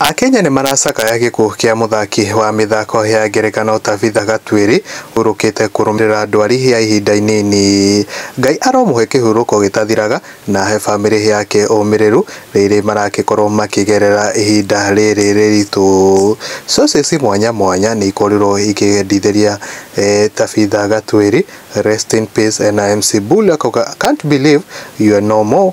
Akenya nĩmaracakaya gĩkuũ kĩa mũthaki wa mĩthako ya ngerekano Tabitha Gatuĩri ũrũkĩte kũrũmĩrĩra ndwari ya ihinda inini. Ngai aromũhe kĩhurũko gĩtathiraga na ahe bamĩrĩ yake ũmĩrĩru rĩrĩ maragĩkorwo makĩgerera ihinda rĩrĩ rĩritũ. Cocĩci mwanya mwanya nĩikorirwo ikĩendithĩria Tabitha Gatuĩri rest in peace na MC Bull akauga can't believe you're no more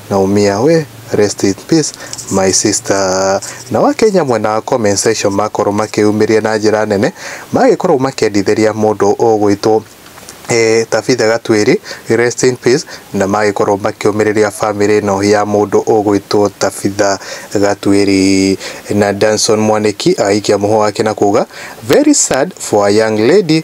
Naumia we rest in peace my sister. Nao Akenya mwena wa comment section makorwo makĩyumĩria na njĩra nene magĩkorwo makĩendithĩria mũndũ ũgwĩtwo eh, Tabitha Gatwĩri rest in peace na magĩkorwo makĩũmĩrĩria bamĩrĩ ĩno ya mũndũ ũgwĩtwo Tabitha Gatwĩri na Danson Mwanĩki agĩikia mũhũ wake na kuga very sad for a young lady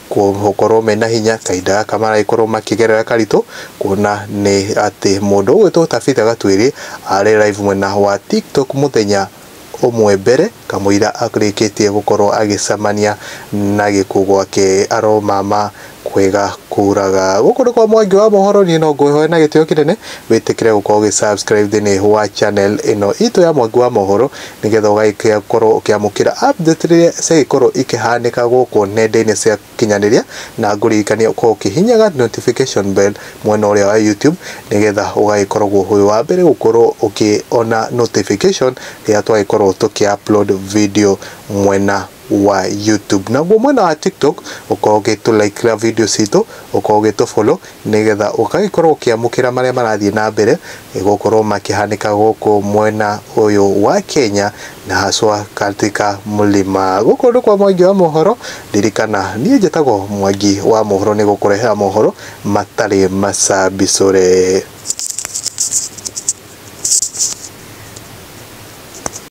gũkorwo mena hinya kahinda gaka maragĩkorwo makĩgerera karitũ, kuona nĩ atĩ mũndũ ũgwĩtwo Tabitha Gatwĩrĩ arĩ live mwena wa TikTok mũthenya ũmwe mbere kamũira arĩkĩtie gũkorwo agĩcemania na gĩkuũ gwake aro mama kwega kũraga. Gũkũ nĩ kwa Mwangi wa Mohoro, niĩ no ngũhoe na gĩtĩo kĩnene wĩtĩkĩre gũkorwo ũgĩ subscribe thĩinĩ wa channel ĩno itũ ya Mwangi wa Mohoro. nĩgetha ũgagĩkĩa gũkorwo ũkĩamũkĩra update rĩrĩa ciagĩkorwo ikĩhanĩka gũkũ nenda-inĩ cia kinyanĩria na ngũririkanie ũkorwo ũkĩhinyaga notification bell mwena ũrĩa wa YouTube nĩgetha ũgagĩkoragwo wĩ wa mbere gũkorwo ũkĩona notification rĩrĩa twagĩkorwo tũkĩ upload video mwena wa YouTube. Naguo mwena wa TikTok ũkorwo ũgĩtũ like ra video citũ, ũkorwo ũgĩtũ follow nĩgetha ũgagĩkorwo ũkĩamũkĩra marĩa marathiĩ na mbere gũkorwo makĩhanĩka gũkũ mwena ũyũ wa Kenya na haswa katika mlima. Gũkũ nĩ kwa Mwangi wa mohoro, ririkana niĩ njĩtagwo Mwangi wa mohoro nĩ gũkũrehera mohoro matarĩ macambicũre.